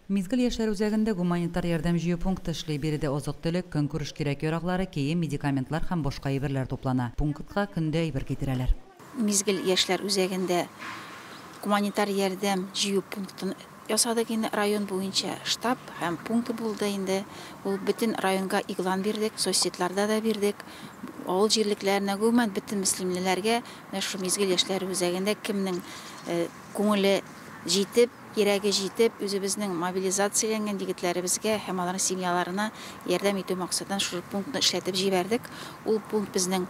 Мизгел яшьләр үзәгендә гуманитар ярдәм җыю пункты эшли. Биредә азык-төлек, көнкүреш кирәк-яраклары, кием, медикаментлар һәм башка әйберләр туплана. Пунктка көн дә әйбер китерәләр. Мизгел яшьләр үзәгендә гуманитар ярдәм җыю пунктын ясадык инде. Район буенча штаб һәм пункты булды инде. Ул бөтен районга игълан бирдек, соцсетларда да бирдек. Авыл җирлекләренә, гомумән, бөтен мөслимлеләргә менә шушы Мизгел яшьләр үзәгендә кемнең күңеле җитеп, Кирәге җитеп, үзебезнең мобилизацияләнгән егетләребезгә һәм аларның семьяларына ярдәм итү максатыннан шушы пунктны эшләтеп җибәрдек. Ул пункт безнең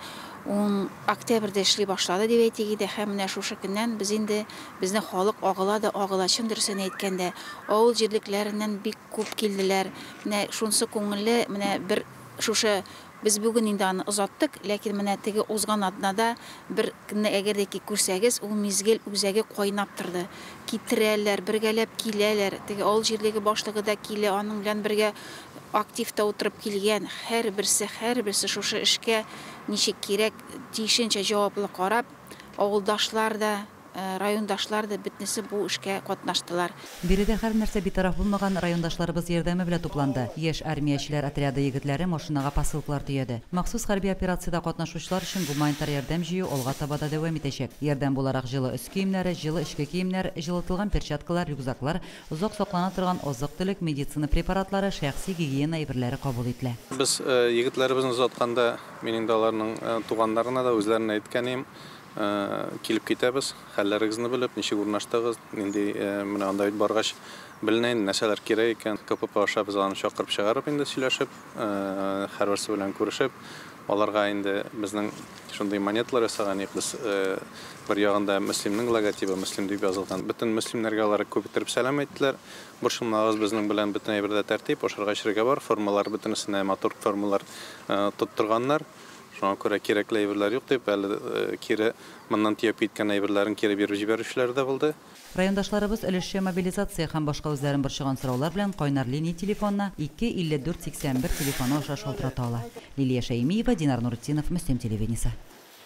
ун октябрьдә эшли башлады, дип әйтик иде, һәм менә шушы көннән без инде, безнең халык агыла да агыла, чын дөресен әйткәндә, авыл җирлекләреннән бик күп килделәр. Менә шунысы күңелле, менә бер шушы Без бүген инде аны озаттык, ләкин менә теге узган атнада бер кне әгәр дә ки күрсәгез, ул мизгел үзәге кайнап торды. Китерәләр, бергәләп киләләр, теге авыл җирлеге башлыгы да килә, аның белән бергә актив та утырып килгән, һәрберсе, һәрберсе шушы эшкә ничек кирәк, тиешенчә җаваплы карап, авылдашлар да, Райондашлар да бөтнесе бу эшкә катнаштылар. Биредә һәрнәрсә битараф булмаган райондашларыбыз ярдәме белән тупланды. Яшь армиячеләр отряды егетләре машинага посылкалар төяде. Махсус хәрби операциядә катнашучылар өчен гуманитар ярдәм җыю алга таба да дәвам итәчәк. Ярдәм буларак җылы өс киемнәре, җылы эчке киемнәр, җылытылган перчаткалар, рюкзаклар, озак саклана торган азык-төлек, медицина препаратлары, шәхси гигиена әйберләре кабул ителә. Без егетләребезне озатканда, мин инде аларның туганнарына да, үзләренә дә әйткән идем, Килеп китәбез, хәлләрегезне белеп, ничек урнаштыгыз, нинди, менә анда бит баргач беленә инде, нәрсәләр кирәк икән. КПП аша без аны чакырып чыгарып инде сөйләшеп, һәрберсе белән күрешеп, аларга инде безнең шундый монеталар ясаган идек без, бер ягында Мөслимнең логотибы, Мөслим дип язылган. Бөтен мөслимнәргә алар күп иттереп сәлам әйттеләр. Борчылмагыз, безнең белән бөтен әйбердә тәртип, ашарга-эчәргә бар, формалар бөтенесенә матур формалар тоттырганнар. Шуңа күрә кирәкле әйберләр юк дип, әле кире моннан төяп киткән әйберләрен кире биреп җибәрүчеләр дә булды. Райондашларыбыз өлешчә мобилизация һәм башка үзләрен борчыган сораулар белән кайнар линия телефонына 2 54 81 телефоны аша шалтырата ала. Лилия Шәймиева, Динар Нуретдинов, Мөслим телевидениесе.